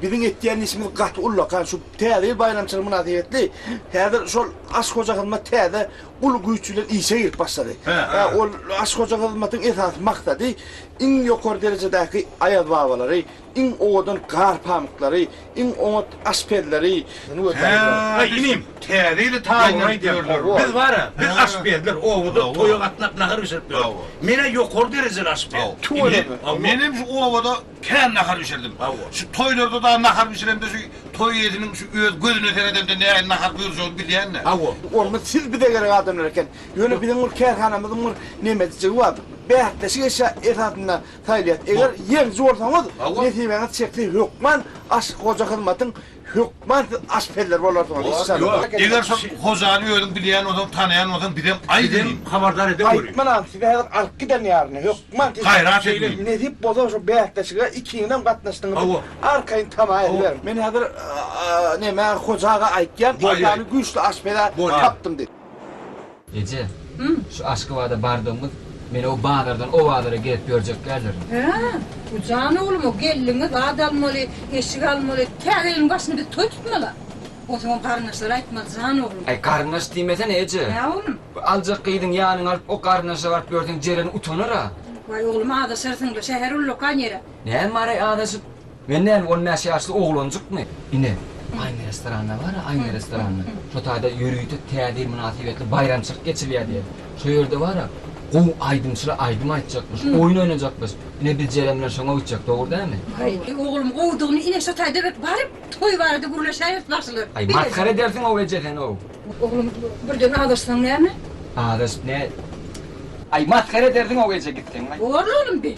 Biziň etýän işimiz gaty ullakan şu Täze ýyl baýramçylygy mynasybetli häzir şol Aşyk hoja hyzmat täze uly güýç bilen işe girip başlady. Ol Aşyk hoja hyzmatyň esasy maksady iň ýokary derejedäki aýazbabalary, iň owadan gar pamyklary, iň oňat aşpezleri, Häý, inim, Täze ýyly taýyndan aýdýarlar. Biz bar-a, biz aşpezler obada toýa gatnap nahar bişirip ýörüs. Men-ä ýokary derejeli aşpez. Tüweleme. Menem şu obada Kän nahar bişirdim. Şu toýlarda dagy nahar bişiremde şu toý eýesiniň şu öz gözüne seredende nähili nahar buýurjagyny bilýän-dä. Hawa. Onda siz bize gerek adamlar eken. Ýöne biziň bir kärhanamyzyň bir nemedijigi bar. Bäsleşik eşya esasynda saýylýas. Eger ýeňiji bolsaňyz, nesibeňiz çekse hökman Aşyk Hoja Hyzmatyň Hökman siz aşpezler bolarsyňyz işjanlar. Ýok, eger şol hojany özüň bilýän bolsaň, tanaýan bolsaň bizem aýt indi. Bizem habardar ede görýin. Gaýtmanam, sizi häzir alyp giden ýaryny, hökman siz. Gaýrat ediň. Nesip bolsa şu bäsleşige ikiňizem gatnaşdyňyz diýip arkaýyn tama ediberiň. Men häzir neme hoja aga aýtýan, işjany güýçli aşpez-ä tapdym diýip. Eje, şu Aşgabada bardygyňyz meni o bazardan o bazara gezip ýörjeklerdirin. Hä? Bu jan oglum-a geldiňiz, zat almaly, eşik almaly, tä gelin başyny biz toý tutmala. Onsoňam garyndaşlara aýtmaly jan oglum. Äý, garyndaş diýmesene, eje. Nä oglum? Bu aljak gyzyň ýanyňa alyp o garyndaşa baryp ýörseň Jeren utanar-a. Waý, oglum, azaşarsyň-la, şäher ullakan ýer-ä. Näme bar-aý azaşyp? Men näme on bäş ýaşly oglanjykmy? Ine, aýna restoranda bar-a, aýna restoranda. Şo taýda ýörite Täze ýyl mynasybetli baýramçylyk geçirilýär diýen. Şo ýerde bar-a, gowy aýdymçylar aýdym aýtjakmyş, oýun oýnajakmyş. Ine, biz Jeren bilen şoňa gitjek, dogry dälmi? Aý, oglum, gowudygyny, ine, şo taýda bir baryp, toý barada gürleşäýeris bagşylar. Aý, masgara edersiň-ow eje sen-ow. Oglum, birden azaşsaň näme? Azaşyp näet. Aý, masgara edersiň-ow eje gitseň-ow. Bor-la, oglum, bi.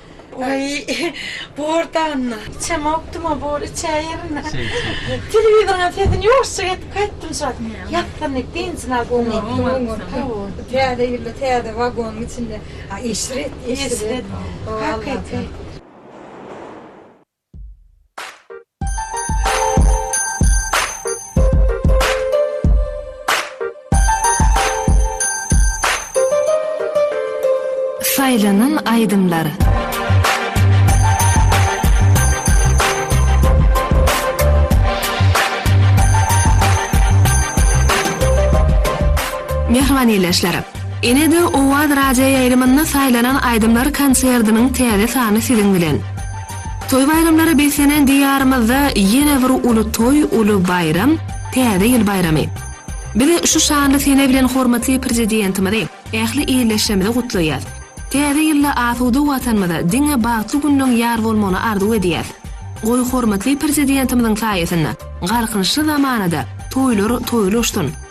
Aý bor danda. Içem okduma bor içä ýerine. Telewizoryň sesini ýuwaşjak edip gaýtdym şol. Ýatdym diýip dynjyny alyp oňartdym. Täze ýylda täze wagonyň içinde eşret eşret. Hakyky. Saýlanan aýdymlar. Mähriban ildeşler! Ene-de Owaz radioýaýlymynda saýlanan aýdymlar konserdiniň täze sany siziň bilen! Toý-baýramlara beslenen Diýarymyzda ýene bir uly toý, uly baýram, Täze ýyl baýramy. Biz şu şanly sene bilen hormatly Prezidentimizi, ähli ildeşlerimizi gutlaýas. Täze ýylda asuda Watanymyza, diňe bagtly günleň ýar bolmagyny arzuw edýäs. Goý, hormatly Prezidentimiziň saýasynda, galkynyşly zamanada toýlar toýly uçsun!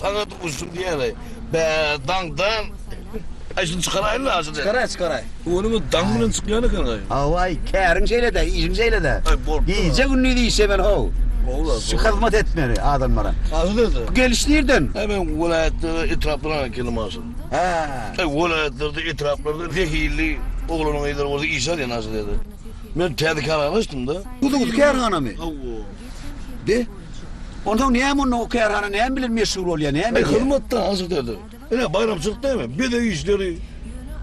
Saňa duşdum diýeli. Bä, daňdan aýşyny çykaraýyn-la ajy diýip. Çykaraý, çykaraý. Ony men daň bilen çykýan ekeniň-aý. Hawa-aý, käriň şeýle-dä, işiň şeýle-dä. Aý, bolupdyr. Gije-gündiz işlemeli how. Hawa-la. Şu hyzmat etmeli adamlara. Ajy dede. Bu geliş nirden? Aý, men welaýatlardan, etraplardan geldim ajy. Hä. Aý, welaýatlarda, etraplarda zehilli oglanyň-gyzlary bolsa işe alýan ajy dede. Men täze kärhana açdym-da. Guzuguzy kärhanamy? Hawa. Be. Onsoň näme onda o kärhana näme bilen meşgul bolýar, näme edýär? Hyzmatda hasyl dede. Ine baýramçylyk näme? Bezeg işleri,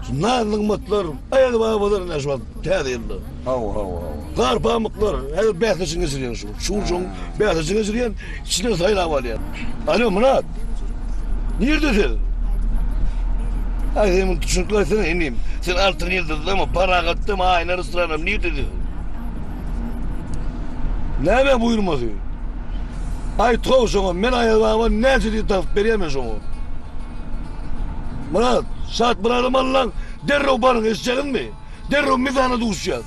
şu naz-nygmatlar, aýal-babalar ine şu wagt täze ýylda. Hawa, hawa, hawa. Gar pamyklar, häzir bäsleşigiň geçirýän şu. Şu şoň bäsleşigiň geçirýän, içinden saýlap alýan. Alo, Myrat! Nirde sen? Aý, sen muny düşünikli aýtsana, inim. Sen Altyn ýyldyzdamy, Paragatdamy, Aýna restoranam, nirde sen? Näme buýurmasy? Aýt-how şoňa, men Aýazbaba näçe diýip tapyp berýän men şoňa. Myrat, Şatmyradam alyň, derrew baryň, eşitjegizmi? Derrew mizana duşýas.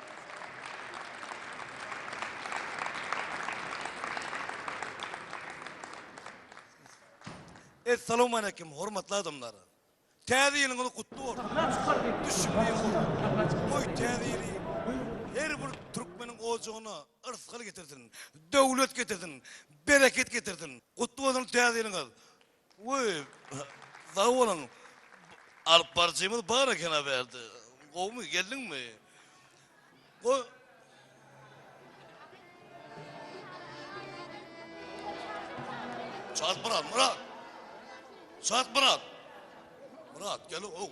Essalowmaleýkim, hormatly adamlar! Täze ýylyňyz gutly bolsun! Düşümli ýyl! Goý, Täze ýyly her bir türkmeniň ojagyna yrsgal getirsin, döwlet getirsin, bereket getirsin! Gutly bolsun Täze ýylyňyz! Woy sag boluň alyp baryjymyz bar ekena bärde gowmy geldiňmi goý. Çalt Myrat Myrat Çalt Myrat Myrat gel ow.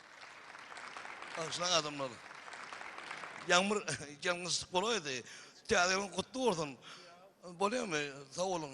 Bagşylaň adamlar. Ýagmyr ýalňyşlyk bolaýdy. Täze ýylyň gutly bolsun. Bolýamy? Sag boluň.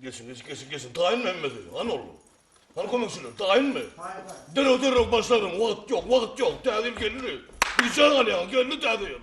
Geçiň, geçiň, geçiň, geçiň. Taýyn Mehmedi, hany oglum. Hany kömekçiler, taýynmy? Derrew, derrew başladyň. Wagt ýok, wagt ýok. Täze ýyl geldi. Bijan alýaň, geldi täze ýyl.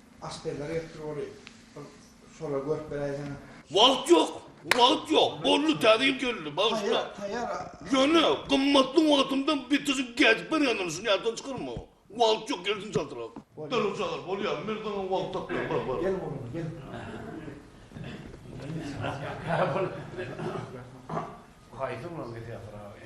Aşpezler ýokdur oly bir şolar görüp beräýseň. Wagt ýok, wagt ýok, boldy täze ýyl geldi, bagyşla. Ýöne, gymmatly wagtymdan bitizip gecip berýändirin, şuny ýatdan çykarma. Wagt ýok, gelsin çaltrak. Dürli çagyr, bolýar, men saňa wagt tapýan, bar, bar. Gel oglan, gel. Haýsy oglan gelýär, Pyragy?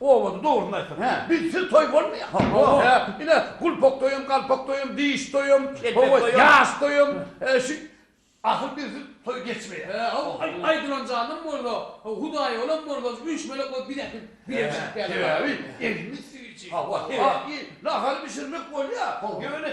Owadan dogryny aýtsaň hä bizsiz toý bolmaýa ho hä ine gulpak toýam galpak toýam diş toýam howa ýaş toýam şu ahyr bizsiz toý geçmeýä hä haw aýdylan jandan bolsa haw hudaý bolan bolsa şu üç melek bolup biz äkit bile çykyp geldik sebäbi elimiz süýji hawa sebäbi nahar bişirmek bolýa ýöne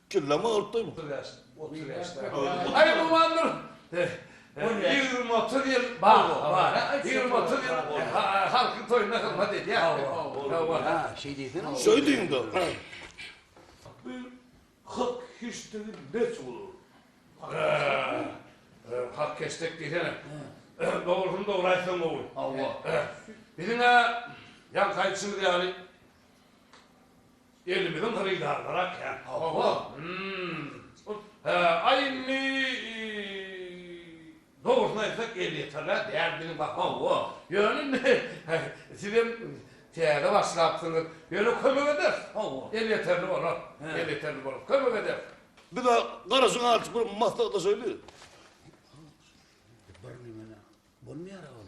Killama alypdymy? Otuz ýaş, otuz ýaşda. Aý gumandyr. Ýigrimi, otuz ýyl bar. Ýigrimi, otuz ýyl halkyň toýunda hyzmat edýär. Şeý diýsene. Şeý diýiňda. Bu hak heştegi näçe bolar? Hak heştek diýsene. Dogrusyny dogry aýtsaň gowy. Hawa. Biziň-ä ýaňky aýdyşymyz ýaly. Elimiziň hyrydarlara kän hawa hum hä aý indi dogrusyny aýtsak elýeterler däl biziň baha o ýöne indi sizem täze başlapsyňyz ýöne kömek ederis hawa elýeterli bolar elýeterli bolar kömek ederis. Biz a garaşyň artyp bir maslahatlaşaýly. Birneme bolmaýara ol.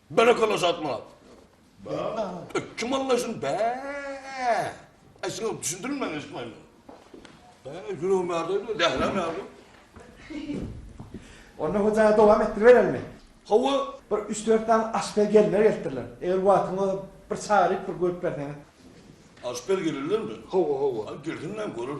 Berekella Şatmyrat. Bäh. Kim alla şun bäh. Aý şuňa düşündiriň men eşitmeýin. Bäh ýüregim ýardyýdy zähräm ýardy. Onda hojaga dowam etdiriberelimi? Hawa. Bir üç dört sany aşpez gelinler gelipdirler. Eger wagtyň bolsa bir çagyryp bir görüp berseňiz. Aşpez gelinlermi? Hawa hawa. Girsin näme görür.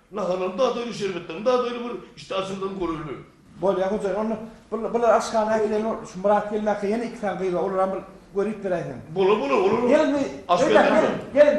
Naharlaryň dady aýry, şerbetleriň dady aýry bir içde açygydan görerler. Bolýa hojaýyn onda bir bular aşhana äkideýin ol şu Myrat gelmäkä ýene iki sany gyz bar olaram bir göri ýip beräýseň. Bolar bolar olar aşgärleriň.